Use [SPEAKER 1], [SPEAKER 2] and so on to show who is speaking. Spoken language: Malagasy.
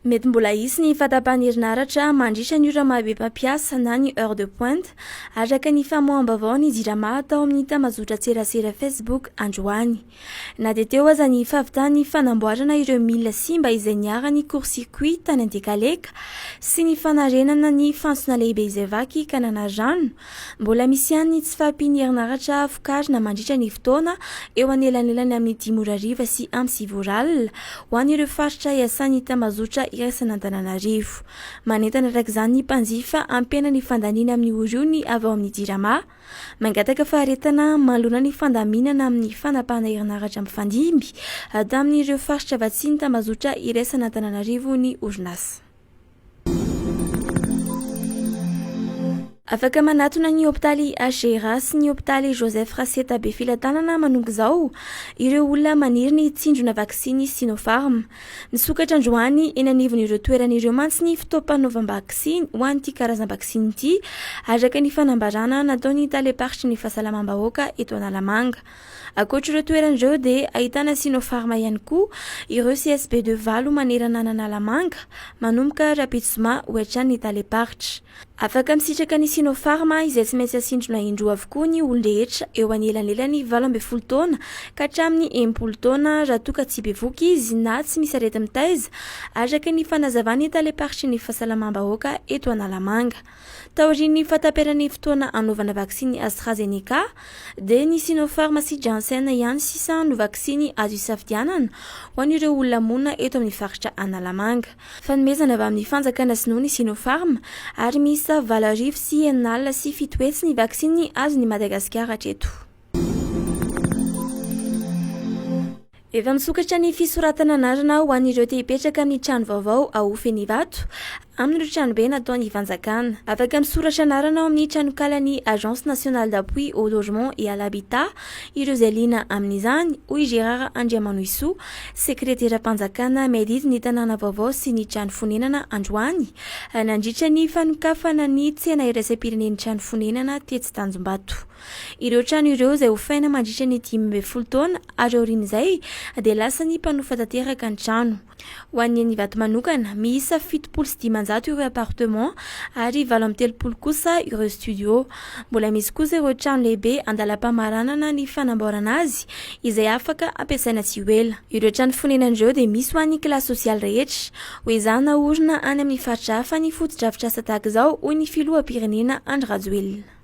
[SPEAKER 1] Mety mbola hisy ny fahatapahan'ny herinaratra mandritra ny ora maha-be mpampiasa na ny heure de pointe, araka ny famoaham-baovaon'ny Jirama tao amin'ny tambazotran-tserasera Facebook androany. Na dia teo aza ny fahavitan'ny fanamboarana ireo milina simba izay niharan'ny court-circuit tany Antekaleka sy ny fanarenana ny fantsona lehibe izay vaky ka nanary rano, Mbola misy ihany ny tsy fahampian'ny herinaratra vokarina mandritra ny fotoana eo anelanelany amin'ny dimy ora hariva sy amin'ny sivy ora alina ho an'ireo faritra iasan'ny tambazotra iraisan'Antananarivo. Manentana araka izany ny mpanjifa hampiana ny fandaniana amin'ny oriony avy ao amin'ny Jirama mangataka faharetana manoloana ny fandaminana amin'ny fanapahana herinaratra mifandimby tamin'ireo faritra vatsian'ny tambazotra iraisan'Antananarivo ny orinasa. Afaka manatona ny hopitaly HGRA sy ny hopitaly Joseph Raseta Befilatanana manomboka izao ireo olona maniry ny hitsindrona vaksiny Sinopharm. Misokatra androany eny anivon'ireo toerana ireo mantsy ny fotoam-panaovam-baksiny ho an'ity karazam-baksiny ity, araka ny fanambarana nataon'ny talem-paritry ny fahasalamam-bahoaka eto Analamanga. Ankoatr'ireo toerana ireo dia ahitana Sinopharma ihany koa ireo CSB de valo manerana an'Analamanga, manomboka rahampitso zoma ho hatrany ny talem-paritra. Afaka misitraka ny Sinopharma izay tsy maintsy asindrona indroa avokoa ny olon-drehetra eo anelanelany valo ambin'ny folo taona ka hatramin'ny enimpolo taona raha toa ka tsy bevoka izy na tsy misy areti-mitaiza, araka ny fanazavan'ny talem-paritry ny fahasalamam-bahoaka eto Analamanga. Taorian'ny fahataperan'ny fotoana hanaovana vaksiny AstraZeneca, dia ny Sinopharm sy Janssen ihany sisa no vaksiny azo isafidianana ho an'ireo olona monina eto amin'ny faritra Analamanga. Fanomezana avy amin'ny fanjakana sinoa ny Sinopharm ary miisa valo arivo sy enina alina sy fito hetsy ny vaksiny azon'i Madagasikara hatreto. Efa misokatra ny fisoratana anarana ho an'ireo te hipetraka amin'ny trano vaovao ao Fenivato, amin'ireo tranobe nataon'ny fanjakana. Afaka misoratra anarana ao amin'ny tranonkalan'ny Agence Nationale d'Appui au Logement et à l'Habitat ireo izay liana amin'izany, hoy i Gérard Andriamanohisoa, sekreteram-panjakana Mairie ny tanàna vaovao sy ny trano fonenana androany, nandritra ny fanokafana ny tsena iraisam-pirenen'ny trano fonenana tetsy Tanjombato. Ireo trano ireo izay hofaina mandritra ny dimy ambin'ny folo taona ary aorian'izay dia lasan'ny mpanofa tanteraka ny trano. Ho an'ny eny Ivato manokana, miisa fitopolo sy dimanjato ireo appartement ary valo amby telopolo kosa ireo studio. Mbola misy kosa ireo trano lehibe andalam-pamaranana ny fanamboarana azy izay afaka ampiasaina tsy ho ela. Ireo trano fonenana ireo dia misy ho an'ny kilasy sosialy rehetra. Ho ezahina haorina any amin'ny faritra hafa ny fotodrafitrasa tahaka izao, hoy ny filoham-pirenena Andry Rajoelina.